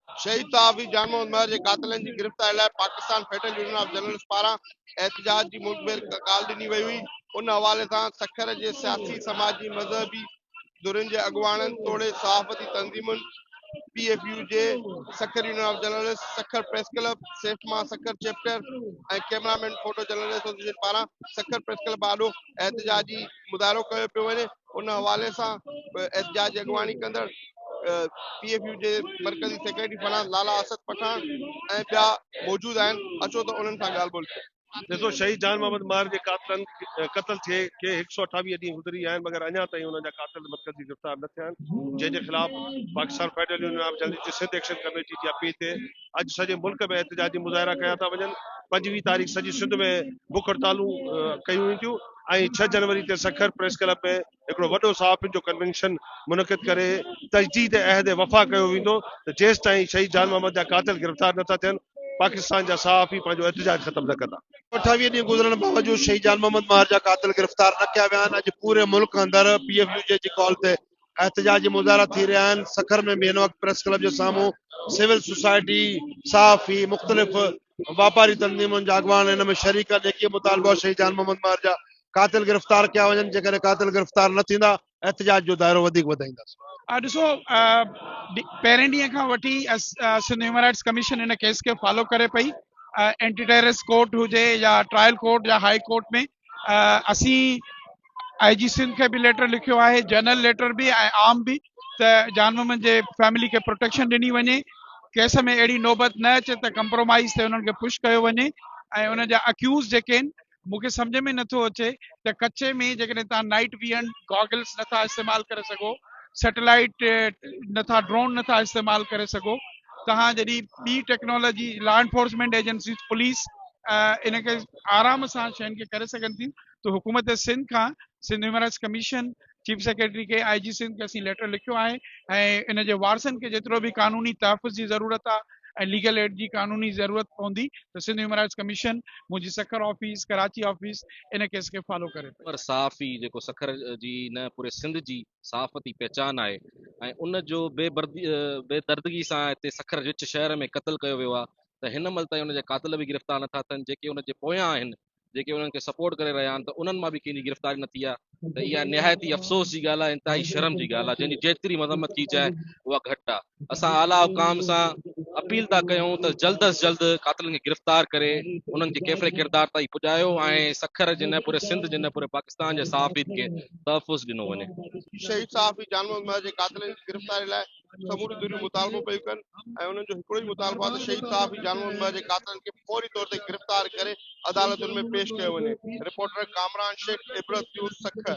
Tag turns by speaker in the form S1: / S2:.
S1: شهيد صحافي جان محمد مهر جي قاتلن جي گرفتاري لاء Pakistan federal union of journalists پاران احتجاج جي ملڪ ڀير ڪال ڏني وئي هئي ان حوالي سان سکر جي سياسي سماجي مذهبي ڌرين جي اڳواڻن توڙي صحافتي تنظيمن P F U J, Sukkur union of journalists, Sukkur press club, SAFMA Sukkur chapter ۽ camera man photo journalist association پاران سکر پريس ڪلب آڏو احتجاجي مظاهرو ڪيو پيو وڃي ان حوالي سان احتجاج جي اڳواڻي ڪندڙ پي ايف يو جي مرڪزي سيڪريٽري فرحان لالا اسد پٺاڻ ۽ ٻيا موجود آهن اچو ته انهن سان ڳالهه ٻولهه ڪيون ڏسو شهيد جان محمد
S2: ماهر جي قاتلن قتل ٿئي کي هڪ سؤ اٺاويهه ڏينهن گذري ويا آهن مگر اڃا تائين انهن جا قاتل مرڪزي گرفتار نه ٿيا آهن جنهن جي خلاف Pakistan federal union of journalist جي سنڌ ايڪشن ڪميٽي جي اپيل تي اڄ سڄي ملڪ ۾ احتجاجي مظاهرا ڪيا ٿا وڃن پنجويهه تاريخ سڄي سنڌ ۾ بک هڙتالون ڪيون وينديون ۽ ڇهه جنوري تي سکر پريس ڪلب ۾ هڪڙو وڏو صحافين جو ڪنوينشن منعقد ڪري تجديد عهد وفا ڪيو ويندو ته جيستائين شهيد جان محمد جا قاتل گرفتار نه ٿا ٿين پاڪستان جا صحافي پنهنجو احتجاج ختم نه ڪندا. اٺاويهه ڏينهن گذرڻ
S1: باوجود شهيد جان محمد ماهر جا قاتل گرفتار نه ڪيا ويا آهن، اڄ پوري ملڪ اندر پي ايف يو جي جي ڪال تي احتجاجي مظاهرا ٿي رهيا آهن، سکر ۾ به هن وقت پريس ڪلب جي سامهون سول سوسائٽي، صحافي، مختلف واپاري تنظيمن جا اڳواڻ هن ۾ شريڪ آهن، ايڪي مطالبا شهيد جان محمد ماهر جا قاتل گرفتار ڪيا وڃن، جيڪڏهن قاتل گرفتار نه ٿيندا، احتجاج جو دائرو وڌيڪ وڌائينداسين. ڏسو
S3: پهرين ڏينهن کان وٺي سنڌ هيومن رائٽس ڪميشن ان ڪيس کي فالو ڪري پئي اينٽي ٽيررس ڪورٽ هجي يا ٽرائل ڪورٽ يا هاء ڪورٽ ۾ اسين آئي جي سنڌ کي به ليٽر لکيو آهي جنرل ليٽر به ۽ عام به ته جان محمد جي فيملي کي پروٽيڪشن ڏني وڃي ڪيس ۾ اهڙي نوبت نه اچي ته ڪمپرومائز تي انهن کي پش ڪيو وڃي ۽ ان جا اڪيوز جيڪي آهن مون کي سمجهه ۾ نٿو اچي ته ڪچي ۾ جيڪڏهن تان نائٽ ويئن گاگلس نٿا استعمال ڪري سگهو سيٽلائيٽ نٿا ڊرون نٿا استعمال ڪري سگهو تان جڏي ٻي technology law enforcement agency police ان کي آرام سان شين کي ڪري سگهن ٿي ته حڪومت سنڌ کان Sindh human rights commission chief secretary کي آء جي سنڌ کي اسين ليٽر لکيو آهي ۽ ان جي وارثن کي جيترو به قانوني تحفظ جي ضرورت آهي ۽ ليگل ايڊ جي قانوني ضرورت پوندي ته سنڌ هيومن رائٽس ڪميشن منهنجي سکر آفيس ڪراچي آفيس ان ڪيس کي فالو ڪري پئي. پر صحافي جيڪو
S4: سکر جي نه پوري سنڌ جي صحافتي پهچان آهي ۽ ان جو بي بي دردگي سان هتي سکر وچ شهر ۾ قتل ڪيو ويو آهي ته هن مهل تائين ان جا قاتل به گرفتار نٿا ٿين جيڪي ان جي پويان آهن جيڪي انهن کي سپورٽ ڪري رهيا آهن ته انهن مان به ڪنهن جي گرفتاري نه ٿي آهي ته اها نهايت ئي افسوس جي ڳالهه آهي انتهائي شرم جي ڳالهه آهي جنهن جي جيتري مذمت ڪئي جائي اها گهٽ آهي اسان اعليٰ حڪام سان اپيل ٿا ڪيون ته جلد از جلد قاتلن کي گرفتار ڪري انهن کي ڪيفر ڪردار تائين پڄايو ۽ سکر جي نه پوري سنڌ جي نه پوري پاڪستان جي صحافين کي تحفظ ڏنو وڃي شهيد صحافي
S1: جان محمد مهر جي قاتلن جي گرفتاري لاء سموريون ڌريون مطالبو پيون ڪن ۽ انهن جو هڪڙو ئي مطالبو آهي ته شهيد صحافي جان محمد مهر جي قاتلن کي فوري طور تي گرفتار ڪري عدالتن ۾ پيش ڪيو وڃي. Reporter Kamran Shaikh, Ibrat news, Sukkur.